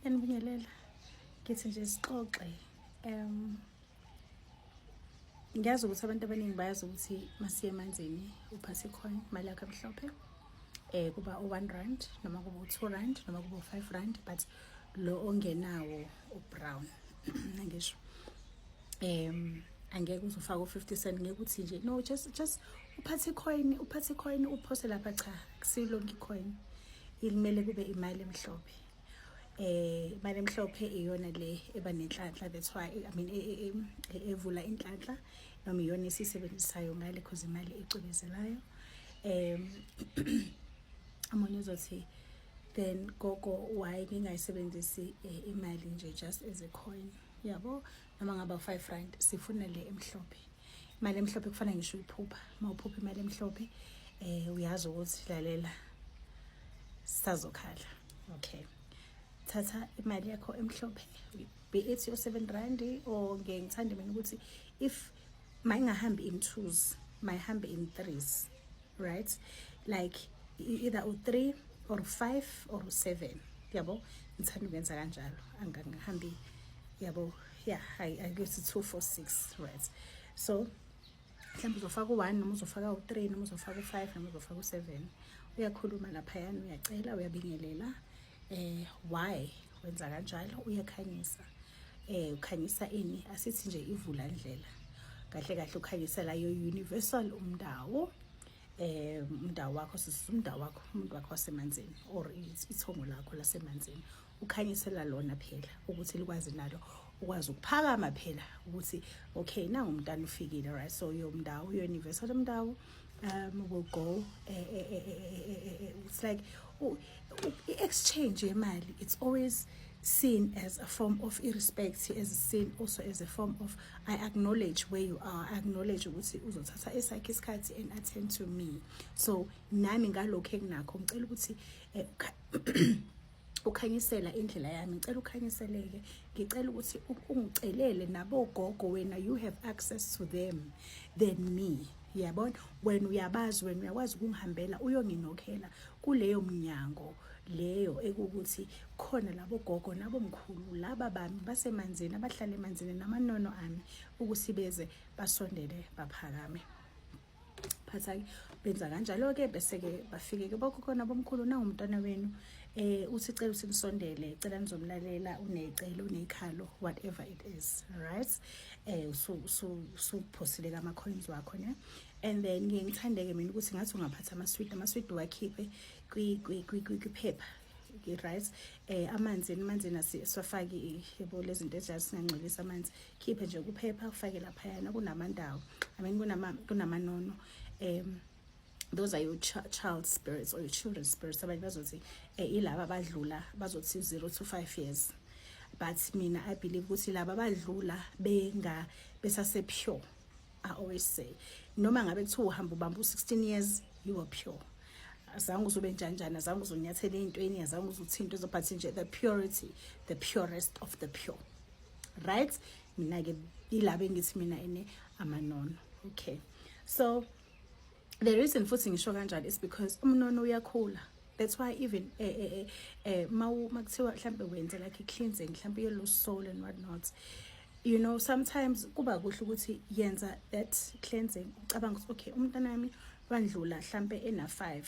Enibingelela. Ngithi nje sixoxe. Um ngiyazi ukuthi abantu abaningi bayazi ukuthi masiye emanzini uphase coin imali yakho emhlophe eh kuba u-1 rand noma kuba u-2 rand noma kuba u-5 rand but lo ongenawo u-brown ngisho um angeke uzofaka u-50 cent ngeke uthi nje no just just uphathe coin uphathe coin uphose lapha cha silongi coin ilimele kube imali emhlophe eh imali emhlophe iyona le eba nenhlanhla that's why i mean e, e, e, evula inhlanhla noma iyona esisebenzisayo ngale cause imali icwebezelayo um amunye uzothi then gogo why ningayisebenzisi eh, imali nje just as a coin yabo noma ngaba u-five rand sifuna le emhlophe imali emhlophe kufanele ngisho uyiphupha uma uphupha imali emhlophe um uyazi ukuthi lalela sisazokhala okay thatha imali yakho emhlophe be it yo-seven rand or ngiyengithanda mina ukuthi if mayingahambi in twos mayihambe in threes right like either u-three or u-five or u-seven yabo ngithanda ukwenza kanjalo angangihambi yabo ya ayikuthi two four six right so mhlawumbe uzofaka u-one noma uzofaka u-three noma uzofaka u-five noma uzofaka u-seven uyakhuluma laphayana uyacela uyabingelela eh why wenza kanjalo uyakhanyisa eh ukhanyisa ini asithi nje ivula ndlela kahle kahle ukhanyisa la yo universal umndawo eh umndawo wakho sisi umndawo wakho umuntu wakho wasemanzini or isithongo lakho lasemanzini ukhanyisela lona phela ukuthi likwazi nalo ukwazi ukuphakama phela ukuthi okay nangu umntana ufikile right so yomndawo yo-universal umndawo um will go uh, uh, uh, it's like oh, exchange yemali it's always seen as a form of irrespect as seen also as a form of i acknowledge where you are i acknowledge ukuthi uzothatha esakhe isikhathi and attend to me so nami ngalokho enginakho ngicela ukuthi eh, ukhanyisela indlela yami ngicela ukhanyiseleke ngicela ukuthi ungicelele nabogogo wena you have access to them than me yabona wena uyabazi wena uyakwazi ukungihambela uyonginokhela kuleyo mnyango leyo ekukuthi khona labo gogo nabo mkhulu laba bami basemanzini abahlala emanzini namanono ami ukuthi beze basondele baphakame phathake benza kanjalo-ke bese-ke bafike-ke bokhona bomkhulu nangumntwana wenu eh uthi cela usinisondele cela nizomlalela unecelo unekhalo whatever it is right eh usuphosile ka ama coins wakho ne and then ngiye ngithandeke mina ukuthi ngathi ungaphatha ama sweet ama sweet wakhiphe kwi kwi kwi kwiphepha right eh amanzi emanzini asiwafaki yebo lezinto ezinjalo singangcolisa amanzi khiphe nje ukuphepha ufake laphayana kunamandawo i mean kunamanono um those are your ch child spirits or your children spirits abanye bazothi um ilaba badlula bazothi zero to five years but mina i believe ukuthi laba badlula benga besasepure i always say noma ngabe kuthiwa uhamba ubamba u-16 years you are pure azange uzobe njanjani azange uzonyathela ey'ntweni azange uzothinto but nje the purity the purest of the pure right mina-ke yilaba engithi mina ene amanono okay so the reason futhi ngisho kanjalo is because umnono uyakhula that's why even eh eh eh, eh makuthiwa mhlambe wenze like i-cleansing mhlambe yellow soul and what not you know sometimes kuba kuhle ukuthi yenza that cleansing ucabanga ukuthi okay umntana wami wandlula mhlambe ena-five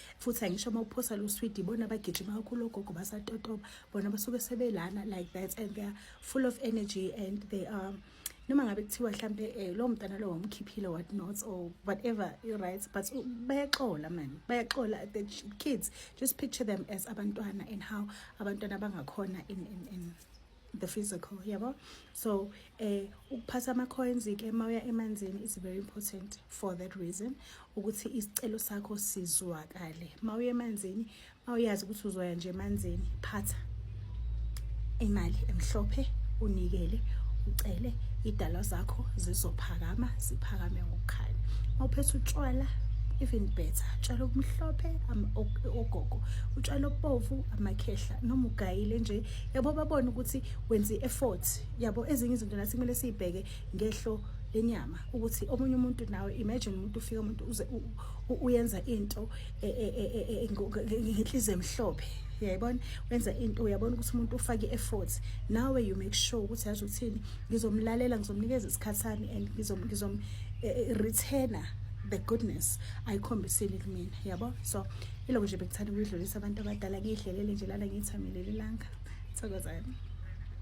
futhi angisho uma uphosa lo swidi bona bagijima kakhulu ogogo basatotoba bona basuke sebelana like that and they are full of energy and they are um, noma ngabe kuthiwa mhlampe um eh, lowo mntana lowo wamkhiphile what not or whatever right but bayaxola mani bayaxola the kids just picture them as abantwana and how abantwana bangakhona in, in, in the physical yabo so eh ukuphatha ama coins ke mawuya emanzini is very important for that reason ukuthi isicelo sakho sizwakale mawuya emanzini mawuyazi ukuthi uzoya nje emanzini phatha imali emhlophe unikele ucele idala zakho zizophakama ziphakame ngokukhanya mawuphethe utshwala even better utshwala obumhlophe ogogo utshwala obovu amakhehla noma ugayile nje yabo babone ukuthi wenza i-effort yabo ezinye izinto nathi kumele siyibheke ngehlo lenyama ukuthi omunye umuntu nawe imagine umuntu ufika umuntu uze uyenza into e, e, e, ngenhliziyo emhlophe uyayibona wenza into uyabona ukuthi umuntu ufake i-effort nawe you make sure ukuthi yazi uthini ngizomlalela ngizomnikeza isikhathi sami and ngizom-returner the goodness ayikhombisile kumina yabo so Ilokhu nje bekuthanda ukuyidlulisa abantu abadala ngiyidlelele nje lana ngiyithamele lelanga. Thokozani.